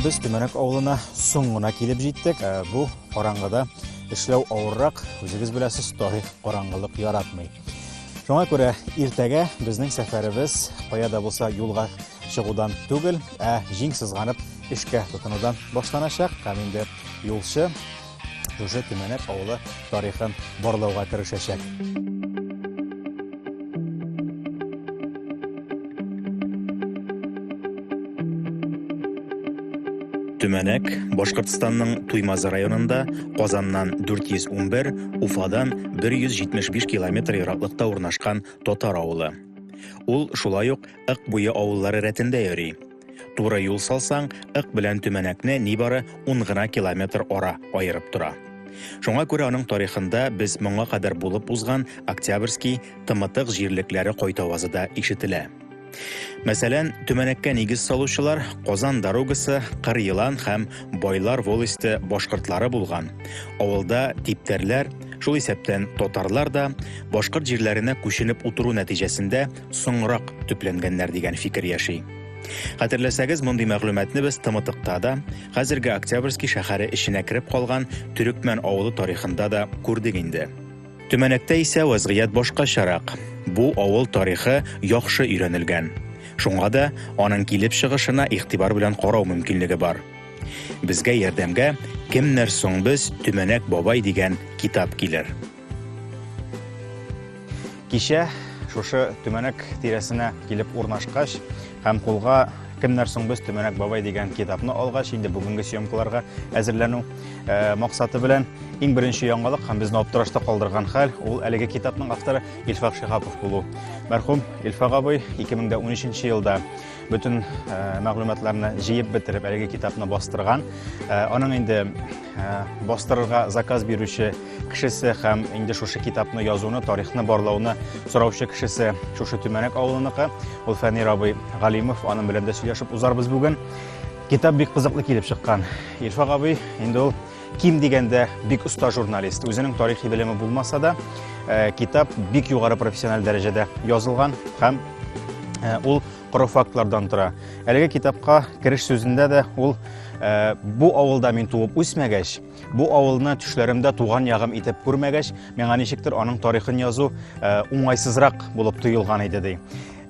Без Төмәнәк авылына соң гына килеп җиттек. Ә, Бу караңгыда эшләү авыррак, үзегез беләсез, тарих караңгылык яратмый. Шуңа күрә иртәгә безнең сәфәребез кая да булса юлга чыгудан түгел, ә җиң сызганып эшкә тотынудан башланачак. Һәм инде юлчы Шушы Төмәнәк авылы тарихын барлауга керешәчәк. Төмәнәк, Башкортстанның Туймаз районында Казаннан 411, Уфадан 175 километр ераклыкта урнашкан татар авылы. Ул шулай ук Ык буе авыллары рәтендә йөри. Туры юл салсаң, Ык белән Төмәнәкне нибары 10 гына километр ара аерып тора. Шуңа күрә аның тарихында без моңа кадәр булып узган Октябрьский, Тымытык җирлекләре кайтавазы да ишетелә. Мәсәлән, Төмәнәккә нигез салучылар Казан дорогасы, Кыр елан һәм Байлар волосте башкортлары булган. Авылда типтәрләр, шул исәптән татарлар да, башкорт җирләренә күченеп утыру нәтиҗәсендә, соңрак төпләнгәннәр дигән фикер яши. Хәтерләсәгез, мондый мәгълүматны без Тымытыкта да, хәзерге Октябрьский шәһәре эченә кереп калган Төрекмән авылы тарихында да күрдек инде. Төмәнәктә исә вазгыять башкачарак. Бу авыл тарихы яхшы өйрәнелгән. Шуңа да аның килеп чыгышына игътибар белән карау мөмкинлеге бар. Безгә ярдәмгә Кемнәр соң без, Төмәнәк бабай дигән китап килер. Кичә шушы төмәнәк тирәсенә килеп урнашкач һәм кулга кемнәр соң без төмәнәк бабай дигән китапны алгач инде бүгенге съемкаларга әзерләнү э, максаты белән иң беренче яңалык һәм безне аптырашта калдырган хәл ул әлеге китапның авторы Илфак Шихапов булу. Мәрхүм Илфак абый 2013 елда Бөтен э, мәгълүматларны җыеп бетереп, әлеге китапны бастырган. Э, аның инде э, бастырырга заказ бирүче кешесе һәм инде шушы китапны язуны, тарихны барлауны сораучы кешесе шушы Төмәнәк авылыныкы. Ул Фәнир абый Галимов, аның белән дә сөйләшеп узарбыз бүген. Китап бик кызыклы килеп чыккан. Илфак абый, инде ул ким дигәндә бик оста журналист. Үзенең тарихи белеме булмаса да, э, китап бик югары профессиональ дәрәҗәдә язылган һәм э, ул коры фактлардан тора. Әлеге китапка кереш сүзендә дә ул э, бу авылда мин туып үсмәгәч, бу авылны төшләремдә туган ягым итеп күрмәгәч, миңа ничектер аның тарихын язу уңайсызрак булып тоелган иде ди.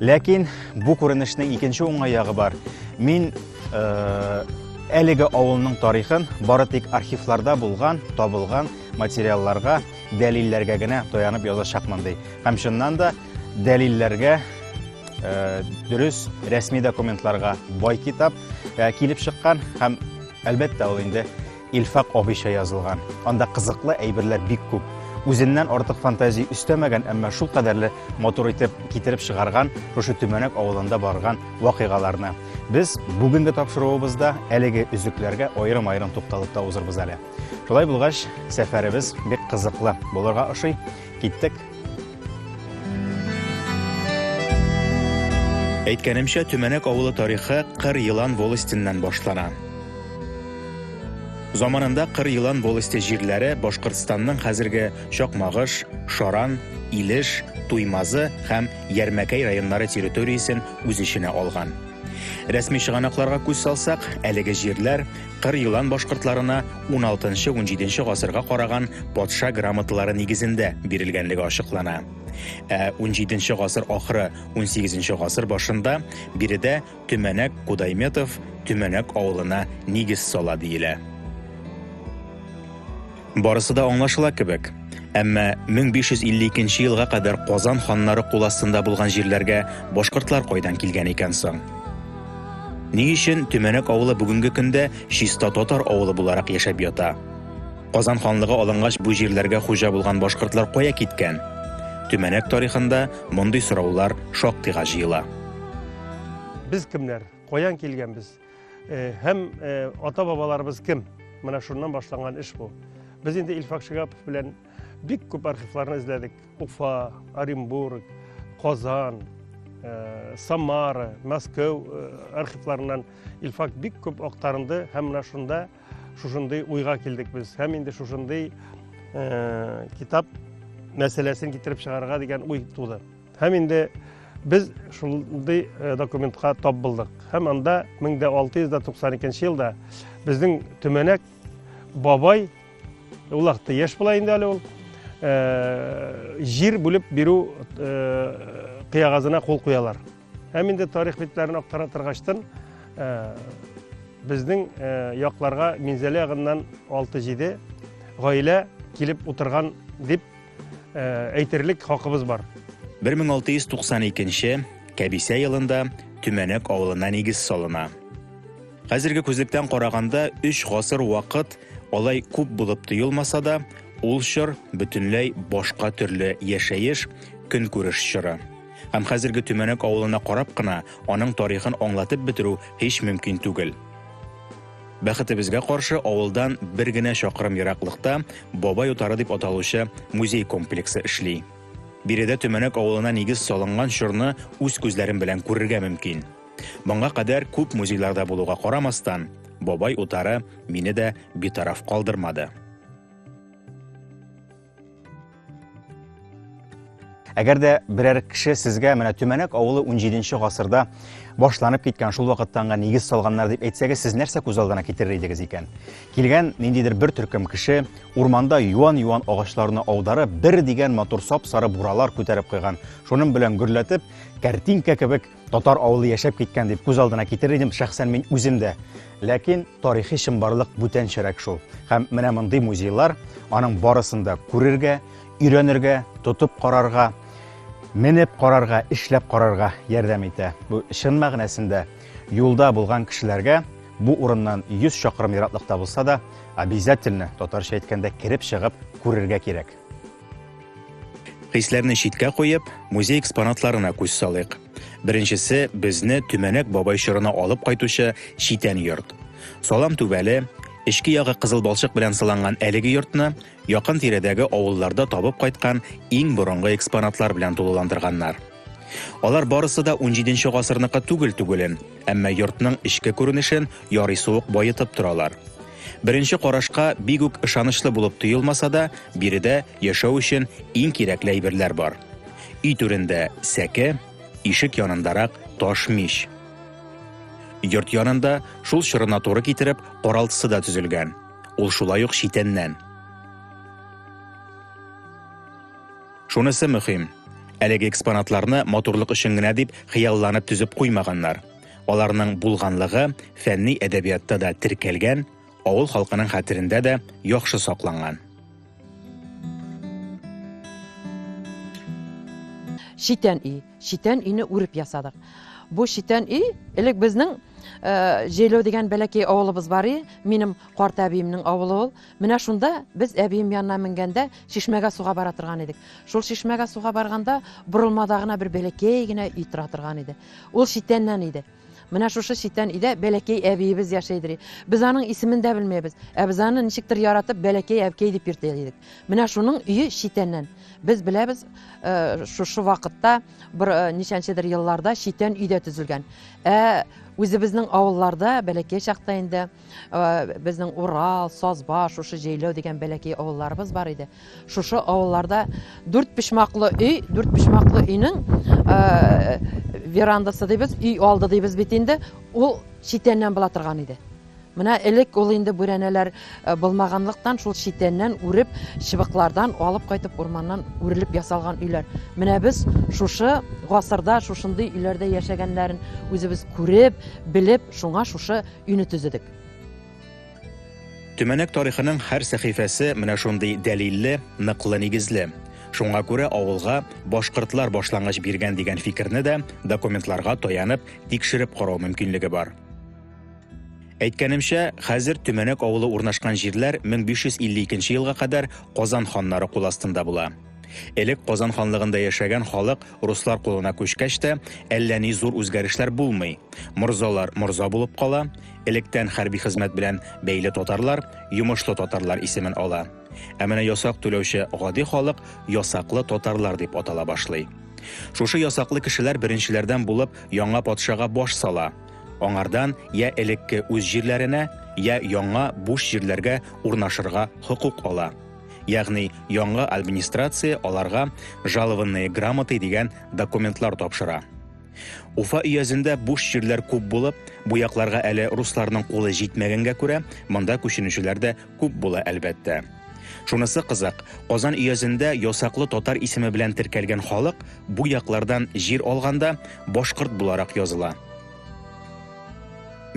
Ләкин бу күренешнең икенче уңай ягы бар. Мин э, әлеге авылның тарихын бары тик архивларда булган, табылган материалларга, дәлилләргә генә таянып язачакмын ди. Һәм чыннан да дәлилләргә э, дөрес рәсми документларга бай китап э, килеп чыккан һәм әлбәттә ул инде Илфак абыйча язылган. Анда кызыклы әйберләр бик күп. Үзеннән артык фантазия өстәмәгән, әмма шул кадәрле матур итеп китереп чыгарган шушы Төмәнәк авылында барган вакыйгаларны. Без бүгенге тапшыруыбызда әлеге өзекләргә аерым-аерым тукталып та узырбыз әле. Шулай булгач, сәфәребез бик кызыклы булырга ошый. Киттек. Әйткәнемчә, Төмәнәк авылы тарихы Кыр елан волостеннән башлана. Заманында Кыр елан волосте җирләре Башкортстанның хәзерге Чакмагыш, Шаран, Илеш, Туймазы һәм Ярмәкәй районнары территориясен үз эченә алган. Рәсми чыганакларга күз салсак, әлеге җирләр Кыр елан башкортларына уналтынчы-унҗиденче гасырга караган патша грамоталары нигезендә бирелгәнлеге ачыклана. Ә унҗиденче гасыр ахыры, унсигезенче гасыр башында биредә Төмәнәк Кудайметов Төмәнәк авылына нигез сала диелә. Барысы да аңлашыла кебек. Әмма 1552 елга кадәр Казан ханнары кул астында булган җирләргә башкортлар кайдан килгән икән соң? Ни өчен Төмәнәк авылы бүгенге көндә чиста татар авылы буларак яшәп ята? Казан ханлыгы алынгач бу җирләргә хуҗа булган башкортлар кая киткән? Төмәнәк тарихында мондый сораулар шактыйга җыела. Без кемнәр? Каян килгәнбез? Э, һәм э, ата бабаларыбыз кем менә шуннан башланган эш бу без инде илфак шигапов белән бик күп архивларны эзләдек уфа оренбург казан э, самара мәскәү архивларыннан илфак бик күп актарынды һәм менә шунда Шушындый уйга килдек без. Һәм инде шушындый э, китап мәсьәләсен китереп чыгарырга дигән уй туды. Һәм инде без шундый э, документка тап булдык. Һәм анда 1692 елда безнең төмәнәк бабай улакты яшь була инде әле ул э, җир бүлеп бирү э, кыягазына кул куялар. Һәм инде тарих битләрен актара торгачтын, э, безнең э, якларга Минзәлә ягыннан 6-7 гаилә килеп утырган дип э, әйтерлек хакыбыз бар. 1692 Кәбисә елында Төмәнәк авылына нигез салына. Хәзерге күзлектән караганда 3 гасыр вакыт алай күп булып тоелмаса да, ул чор бөтенләй башка төрле яшәеш, көнкүреш чоры. Һәм хәзерге Төмәнәк авылына карап кына аның тарихын аңлатып бетерү һич мөмкин түгел. Бәхетебезгә каршы, авылдан бер генә чакрым ераклыкта Бабай утары дип аталучы музей комплексы эшли. Биредә Төмәнәк авылына нигез салынган чорны үз күзләрем белән күрергә мөмкин. Моңа кадәр күп музейларда булуга карамастан, Бабай утары мине дә битараф калдырмады. Әгәр дә берәр кеше сезгә менә Төмәнәк авылы 17-нче гасырда башланып киткән шул вакыттан гына нигез салганнар дип әйтсәгез, сез нәрсә күз алдына китерер идегез икән? Килгән ниндидер бер төркем кеше урманда юан-юан агачларны аударып, бер дигән матур сап-сары буралар күтәреп куйган. Шуның белән гөрләтеп, картинка кебек Татар авылы яшәп киткән дип күз алдына китерер идем шәхсән мин үзем дә. Ләкин тарихи чынбарлык бүтәнчәрәк шул. Һәм менә мондый музейлар аның барысын да күрергә, өйрәнергә, тотып карарга, менеп карарга, эшләп карарга ярдәм итә. Бу чын мәгънәсендә юлда булган кешеләргә бу урыннан 100 чакрым ераклыкта булса да, обязательно татарча әйткәндә кереп чыгып күрергә кирәк. Хисләрне читкә куеп, музей экспонатларына күз салыйк. Беренчесе безне Төмәнәк бабай чорына алып кайтучы читән йорт. Салам түбәле, эчке ягы кызыл балчык белән сыланган әлеге йортны якын тирәдәге авылларда табып кайткан иң борынгы экспонатлар белән тулыландырганнар. Алар барысы да 17 гасырныкы түгел түгелен, әмма йортның эчке күренешен ярый суык баетып торалар. Беренче карашка бик үк ышанычлы булып тоелмаса да, биредә яшәү өчен иң кирәкле әйберләр бар. Өй түрендә сәке, ишек янындарак таш мич. Йорт янында шул чорына туры китереп каралтысы да төзелгән. Ул шулай ук читәннән. Шунысы мөһим, әлеге экспонатларны матурлык өчен генә дип хыялланып төзеп куймаганнар. Аларның булганлыгы фәнни әдәбиятта да теркәлгән, авыл халкының хәтерендә дә яхшы сакланган. Читән өй. Читән өйне үреп ясадык. Бу читән өй элек безнең э, Җәйләү дигән бәләкәй авылыбыз бар и, минем карт әбиемнең авылы ул. Менә шунда без әбием янына менгәндә чишмәгә суга бара торган идек. Шул чишмәгә суга барганда борылмада гына бер бәләкәй генә өй тора торган иде. Ул читәннән иде. Менә шушы читән өйдә бәләкәй әбиебез яшәй дери. Без аның исемен дә белмәйбез. Ә без аны ничектер яратып бәләкәй әбкәй дип йөртә идек. Менә шуның өе читәннән. Без беләбез, э, шушы вакытта бер э, ничәнчедер елларда читән өйдә төзелгән. Ә үзебезнең авылларда бәләкәй чакта инде Безнең Урал, Сазба, шушы Җәйләү дигән бәләкәй авылларыбыз бар иде. Шушы авылларда дүрт почмаклы өй, дүрт почмаклы өйнең верандасы дибез, өй алды дибез бит инде, ул читәннән була торган иде. Менә элек ул инде бүрәнәләр э, булмаганлыктан шул читәннән үреп, чыбыклардан алып кайтып урманнан үрелеп ясалган өйләр. Менә без шушы гасырда шушындый өйләрдә яшәгәннәрен үзебез күреп, белеп, шуңа шушы Өйне төзедек. Төмәнәк тарихының һәр сәхифәсе менә шундый дәлилле, ныклы нигезле. Шуңа күрә авылга башкортлар башлангыч биргән дигән фикерне дә документларга таянып тикшереп карау мөмкинлеге бар. Әйткәнемчә, хәзер Төмәнәк авылы урнашкан җирләр 1552 елга кадәр Казан ханнары кул астында була. Элек Казан ханлыгында яшәгән халык руслар кулына күчкәч тә, әллә ни зур үзгәрешләр булмый. Морзалар морза булып кала, электән хәрби хезмәт белән бәйле татарлар йомышлы татарлар исемен ала. Ә менә ясак түләүче гади халык ясаклы татарлар дип атала башлый. Шушы ясаклы кешеләр беренчеләрдән булып яңа патшага баш сала. Аңардан я элекке үз җирләренә, я яңа буш җирләргә урнашырга хокук ала. Ягъни яңа администрация аларга жалованные грамоты дигән документлар тапшыра. Уфа өязендә буш җирләр күп булып, бу якларга әле русларның кулы җитмәгәнгә күрә, монда күченүчеләр дә күп була әлбәттә. Шунысы кызык, Казан өязендә ясаклы татар исеме белән теркәлгән халык бу яклардан җир алганда башкорт буларак языла.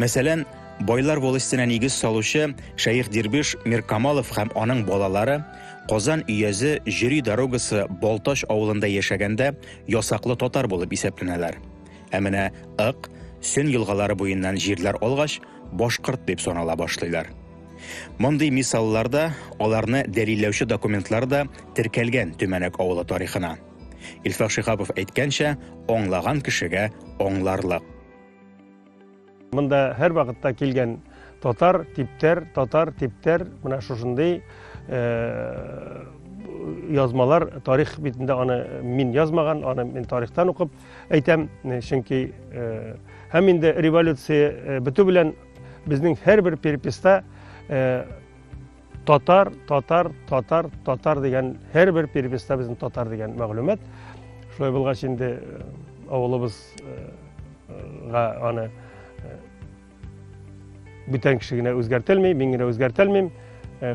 Мәсәлән, Байлар волостенә нигез салучы Шәех Дербиш Миркамалов һәм аның балалары Казан өязе Җөри дорогасы Балтач авылында яшәгәндә ясаклы татар булып исәпләнәләр. Ә менә Ык, Сөн елгалары буеннан җирләр алгач, башкорт дип санала башлыйлар. Мондый мисаллар да, аларны дәлилләүче документлар да теркәлгән Төмәнәк авылы тарихына. Илфак Шиһапов әйткәнчә, аңлаган кешегә аңларлык. Монда һәр вакытта килгән татар, типтәр, татар, типтәр, менә шушындый э, язмалар тарих битендә аны мин язмаган, аны мин тарихтан укып әйтәм, чөнки э, һәм инде революция э, бетү белән безнең һәрбер переписта э, Татар, татар, татар, татар дигән һәр бер переписта безнең татар дигән мәгълүмат. Шулай булгач инде э, авылыбызга э, аны э, бүтән кеше генә үзгәртелми, мин генә үзгәртелмим.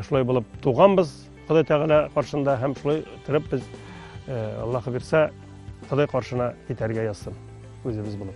Шулай булып туганбыз Ходай Тәгалә каршында һәм шулай торып без Аллаһы бирсә Ходай каршына китәргә язсын үзебез булып.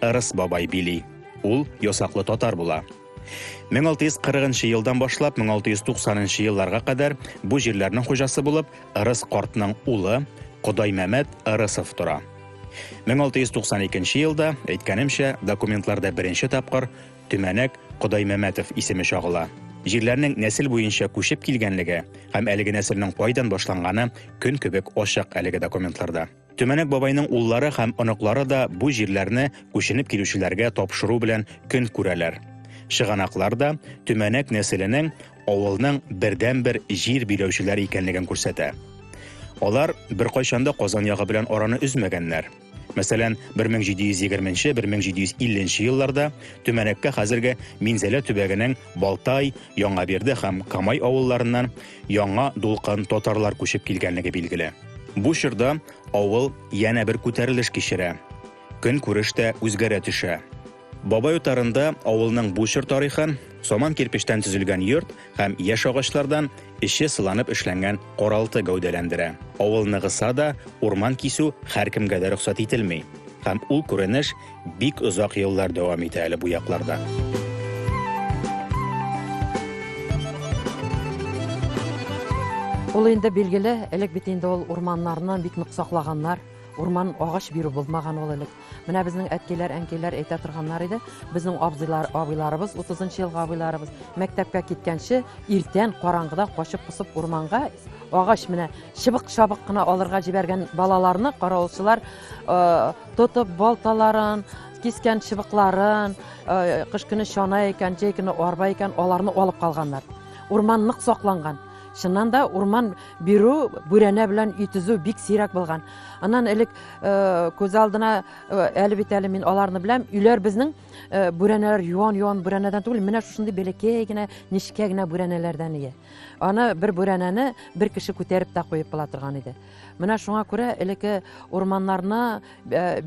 Ырыс бабай били. Ул ясаклы татар була. 1640 елдан башлап 1690 елларга кадәр бу җирләрнең хуҗасы булып Ырыс картның улы Кодаймәмәт Ырысов тора. 1692 елда, әйткәнемчә, документларда беренче тапкыр Төмәнәк Кодаймәмәтов исеме чагыла. Җирләрнең нәсел буенча күчеп килгәнлеге һәм әлеге нәселнең кайдан башланганы көн кебек ачык әлеге документларда. Төмәнәк бабайның уллары һәм оныклары да бу җирләрне күченеп килүчеләргә тапшыру белән көн күрәләр. Чыганаклар да Төмәнәк нәселенең авылның бердәнбер җир биләүчеләре икәнлеген күрсәтә. Алар беркайчан да Казан ягы белән араны өзмәгәннәр. Мәсәлән, 1720-1750 елларда Төмәнәккә хәзерге Минзәлә төбәгенең Балтай, Яңаберде һәм Камай авылларыннан яңа дулкын татарлар күчеп килгәнлеге билгеле. Бу чорда авыл янә бер күтәрелеш кичерә. Көнкүреш тә үзгәрә төшә. Бабай утарында авылның бу чор тарихы, саман кирпечтән төзелгән йорт һәм яшь агачлардан, Эче сыланып эшләнгән каралты гәүдәләндерә. Авыл ныгыса да, урман кисү һәркемгә дә рөхсәт ителми. Һәм ул күренеш бик озак еллар дәвам итә әле бу якларда. Ул инде билгеле, элек бит инде ул урманнарны бик нык саклаганнар, урман агач бирү булмаган ул элек. Менә безнең әткиләр, әнкиләр әйтә торганнар иде. Безнең абзыйлар, абыйларыбыз, 30 елга абыйларыбыз мәктәпкә киткәнче иртән караңгыда качып посып урманга агач менә чыбык чабык кына алырга җибәргән балаларны каравылчылар э, тотып балталарын кискән чыбыкларын э, кыш көне чана икән җәй көне арба икән аларны алып калганнар урман нык сакланган чыннан да урман бирү бүрәнә белән өй төзү бик сирәк булган Аннан элек э, күз алдына э, әле бит әле мин аларны беләм. Өйләр безнең э, бүрәнәләр юан-юан бүрәнәдән түгел, менә шушындый бәләкәй генә, нечкә генә бүрәнәләрдән ия. Аны бер бүрәнәне бер кеше күтәреп тә куеп була торган иде. Менә шуңа күрә элеке урманнарны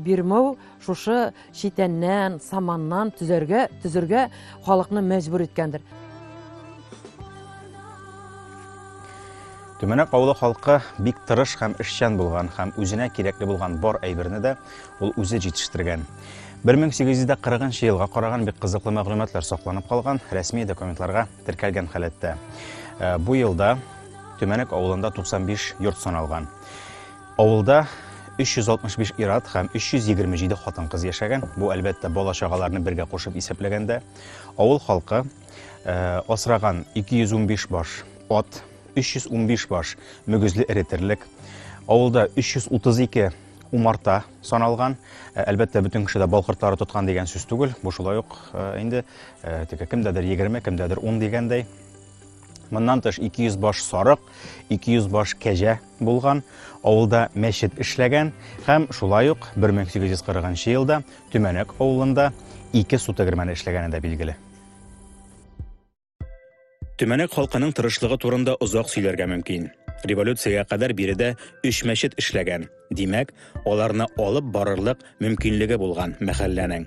бирмәү шушы Читәннән, саманнан төзәргә, төзергә халыкны мәҗбүр иткәндер. Төмәнәк авылы халкы бик тырыш һәм эшчән булган һәм үзенә кирәкле булган бар әйберне дә ул үзе җитештергән. 1840 елга караган бик кызыклы мәгълүматлар сакланып калган, рәсми документларга теркәлгән халәттә. Э, бу елда Төмәнәк авылында 95 йорт саналган. Авылда 365 ир-ат һәм 327 хатын-кыз яшәгән. Бу, әлбәттә, бала-чагаларны бергә кушып исәпләгәндә. Авыл халкы э, асраган 215 баш ат, 315 баш мөгезле эре терлек, авылда 332 умарта саналган. Э, әлбәттә, бөтен кеше дә бал кортлары тоткан дигән сүз түгел. Бу шулай ук э, инде э, теге кемдәдер 20, кемдәдер 10 дигәндәй. Моннан тыш 200 баш сарык, 200 баш кәҗә булган, авылда мәчет эшләгән һәм шулай ук 1840 нчы елда Төмәнәк авылында ике су тегермәне эшләгәне дә билгеле. Төмәнәк халкының тырышлыгы турында озак сөйләргә мөмкин. Революциягә кадәр биредә өч мәчет эшләгән. Димәк, аларны алып барырлык мөмкинлеге булган мәхәлләнең.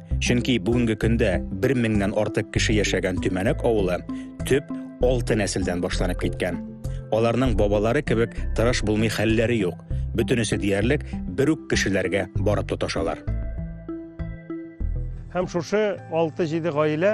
Чөнки бүгенге көндә 1000 меңнән артык кеше яшәгән Төмәнәк авылы төп 6 нәселдән башланып киткән. Аларның бабалары кебек тырыш булмый хәлләре юк. Бөтенесе диярлек бер үк кешеләргә барып тоташалар. Һәм шушы 6-7 гаилә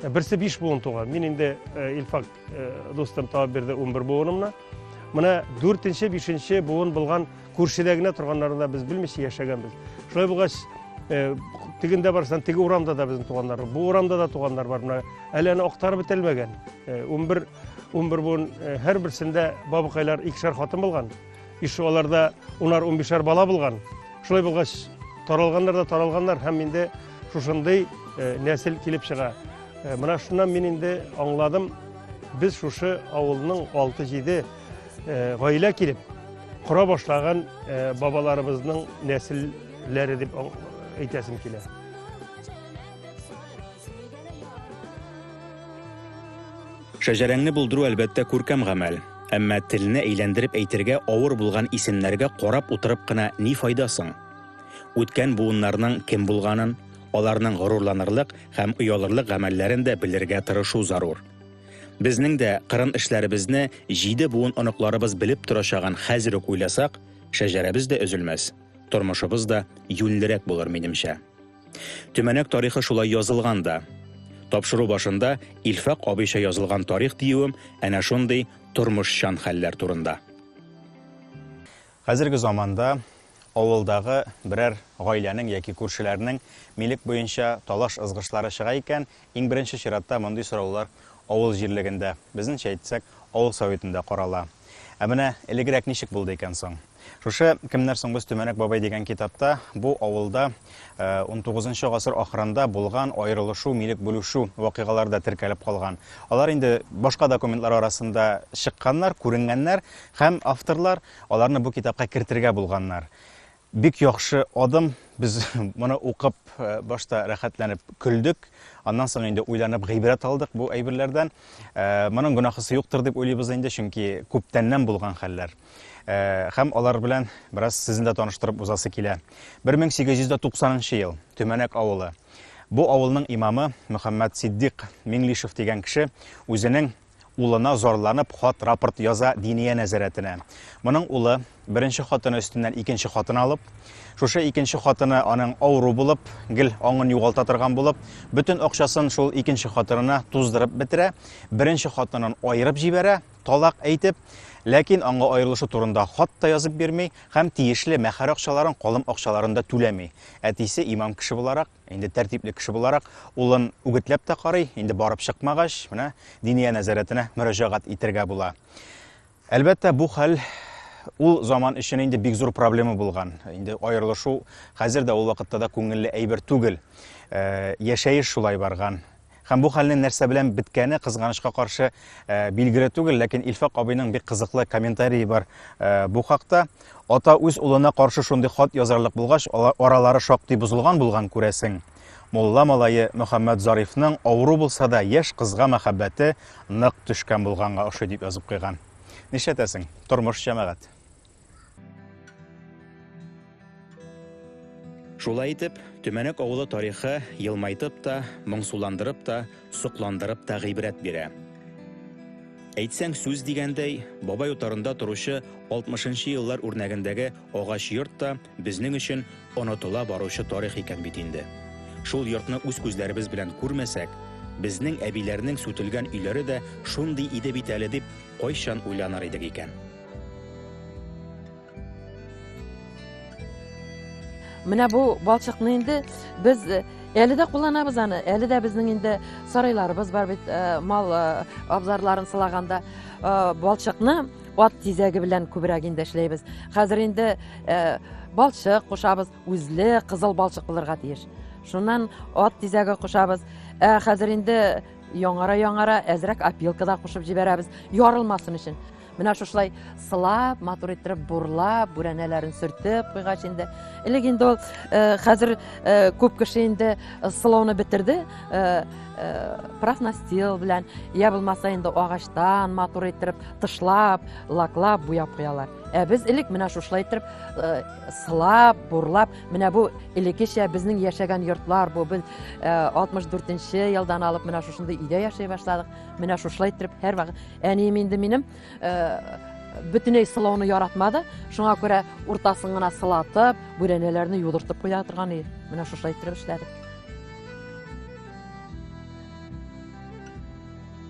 Ә берсе биш буын туган. Мин инде э, Илфак э, дустым табып бирде унбер буынымны. Менә дүртенче, бишенче буын булган күршедә генә торганнарын да без белмичә яшәгәнбез. Шулай булгач, э, тегендә барсаң, теге урамда да безнең туганнар, бу урамда да туганнар бар. Менә әле аны актарып бетелмәгән. Унбер унбер буын һәрберсендә бабыкайлар икешәр хатын булган. Биш аларда унар-унбишәр бала булган. Шулай булгач, таралганнар да таралганнар һәм инде шушындый э, нәсел килеп чыга. Э, менә шуннан мин инде аңладым, без шушы авылның 6-7 э, гаилә килеп кора башлаган бабаларыбызның нәселләре дип әйтәсем килә. Шәҗәрәңне булдыру әлбәттә күркәм гамәл. Әмма телне әйләндереп әйтергә авыр булган исемнәргә карап утырып кына ни файда соң? Үткән буыннарның кем булганын, аларның горурланырлык һәм оялырлык гамәлләрен дә белергә тырышу зарур. Безнең дә кырын эшләребезне җиде буын оныкларыбыз белеп торачагын хәзер үк уйласак, шәҗәрәбез дә өзелмәс, тормышыбыз да юньлерәк булыр, минемчә. Төмәнәк тарихы шулай язылган да. Тапшыру башында Илфак абыйча язылган тарих диюем әнә шундый тормышчан хәлләр турында. Хәзерге заманда авылдагы берәр гаиләнең яки күршеләрнең милек буенча талаш-ызгышлары чыга икән, иң беренче чиратта мондый сораулар авыл җирлегендә, безнеңчә әйтсәк, авыл советында карала. Ә менә элегрәк ничек булды икән соң? Шушы Кемнәр соң без Төмәнәк бабай дигән китапта бу авылда 19 э, гасыр ахырында булган аерылышу, милек бүлүшү вакыйгалары да теркәлеп калган. Алар инде башка документлар арасында чыкканнар, күренгәннәр һәм авторлар аларны бу китапка кертергә булганнар. Бик яхшы адым. Без моны укып э, башта рәхәтләнеп көлдек. Аннан соң инде уйланып гыйбрәт алдык бу әйберләрдән. Э, моның гөнаһысы юктыр дип уйлыйбыз инде, чөнки күптәннән булган хәлләр. Хәм алар белән бераз сезне дә таныштырып узасы килә. 1890 ел, Төмәнәк авылы. Бу авылның имамы Мөхәммәт Сиддик Миңлишев дигән кеше үзенең улына зарланып хат рапорт яза диния нәзәрәтенә. Моның улы беренче хатыны өстеннән икенче хатын алып, шушы икенче хатыны аның авыру булып, гел аңын югалта торган булып, бөтен акчасын шул икенче хатынына туздырып бетерә, беренче хатынын аерып җибәрә, талак әйтеп, ләкин аңа аерылышу турында хат та язып бирми һәм тиешле мәхәр акчаларын, калым акчаларын да түләми. Әтисе имам кеше буларак, инде тәртипле кеше буларак, улын үгетләп тә карый, инде барып чыкмагач, менә диния нәзарәтенә мөрәҗәгать итергә була. Әлбәттә, бу хәл ул заман өчен инде бик зур проблема булган. Инде аерылышу хәзер дә ул вакытта да күңелле әйбер түгел. Э, яшәеш шулай барган. Һәм бу хәлнең нәрсә белән беткәне, кызганычка каршы, билгеле түгел, ләкин Илфак абыйның бик кызыклы комментарии бар бу хакта. Ата үз улына каршы шундый хат язарлык булгач, аралары шактый бозылган булган, күрәсең. Мулла малае Мөхәммәд Зарифның авыру булса да яшь кызга мәхәббәте нык төшкән булганга ошый дип язып куйган. Нишләтәсең, тормыш җәмәгать. Шулай итеп, Төмәнәк авылы тарихы елмайтып та, моңсуландырып та, сокландырып та гыйбрәт бирә. Әйтсәң сүз дигәндәй, бабай утарында торучы 60-нчы еллар үрнәгендәге агач йорт та безнең өчен онытыла баручы тарих икән бит инде. Шул йортны үз күзләребез белән күрмәсәк, безнең әбиләрнең сүтелгән өйләре дә шундый иде бит әле дип, кайчан уйланыр идек икән? Менә бу балчыкны инде без э, әле дә кулланабыз аны. Әле дә безнең инде сарайларыбыз бар бит, э, мал э, абзарларын сылаганда балчыкны ат тизәге белән күбрәк инде эшләйбез. Хәзер инде балчык кушабыз, үзле кызыл балчык булырга тиеш. Шуннан ат тизәге кушабыз. Ә хәзер инде яңара-яңара әзрәк опилка да кушып җибәрәбез, ярылмасын өчен. Менә шушылай сылап, матур иттереп бурлап, бүрәнәләрен сөртеп куйгач инде. Элек инде ул э, хәзер э, күп кеше инде э, сылауны бетерде. Профнастил белән, я булмаса инде агачтан матур иттереп тышлап, лаклап, буяп куялар. Ә без элек менә шушылай иттереп сылап, бурлап, менә бу элеккечә безнең яшәгән йортлар бу. Без 64 елдан алып менә шушында өйдә яшәй башладык. Менә шушылай иттереп һәрвакыт әнием инде минем э, бөтенләй сылауны яратмады. Шуңа күрә уртасын гына сылатып, бүрәнәләрне юдыртып куя торган иде. Менә шушылай иттереп эшләдек.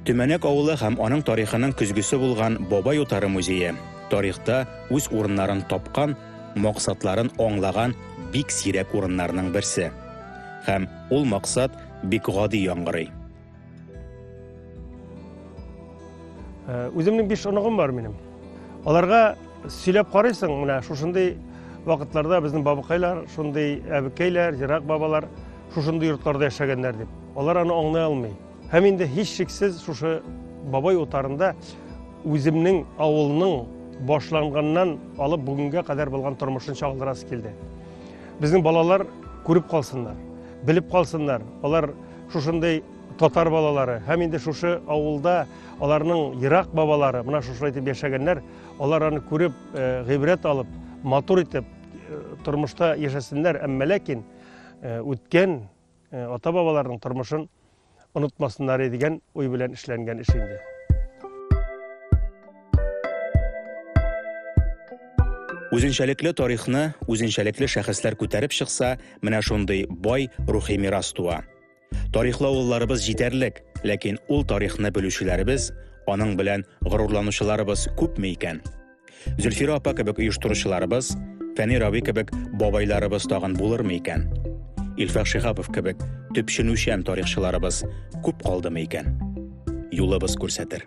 Төмәнәк авылы һәм аның тарихының көзгесе булган Бабай утары музее тарихта үз урыннарын тапкан, максатларын аңлаган бик сирәк урыннарның берсе. Һәм ул максат бик гади яңгырый. Э, үземнең биш оныгым бар минем аларга сөйләп карыйсың менә шушындый вакытларда безнең бабыкайлар шундый әбекәйләр ерак бабалар шушындый йортларда яшәгәннәр дип алар аны аңлый алмый һәм инде һичшиксез шушы бабай утарында үземнең авылның башланганнан алып бүгенгә кадәр булган тормышын чагылдырасы килде безнең балалар күреп калсыннар белеп калсыннар алар Шушындый татар балалары һәм инде шушы авылда аларның ерак бабалары менә шушылай итеп яшәгәннәр. Алар аны күреп, э, гыйбрәт алып, матур итеп э, тормышта яшәсеннәр, әмма ләкин э, үткән ата-бабаларның тормышын онытмасыннар дигән уй белән эшләнгән эш инде. Үзенчәлекле тарихны үзенчәлекле шәхесләр күтәреп чыкса, менә шундый бай рухи мирас туа. Тарихлы авылларыбыз җитәрлек, ләкин ул тарихны белүчеләребез, аның белән горурланучыларыбыз күпме икән? Зөлфира апа кебек оештыручыларыбыз, Фәни Рави кебек бабайларыбыз тагын булырмы икән? Илфәк Шихапов кебек төпченүчән тарихчыларыбыз күп калдымы икән? Юлыбыз күрсәтер.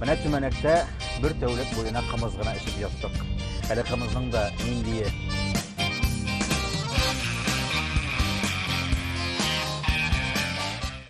Менә Төмәнәктә бер тәүлек буена кымыз гына эчеп яттык. Әле кымызның да ниндие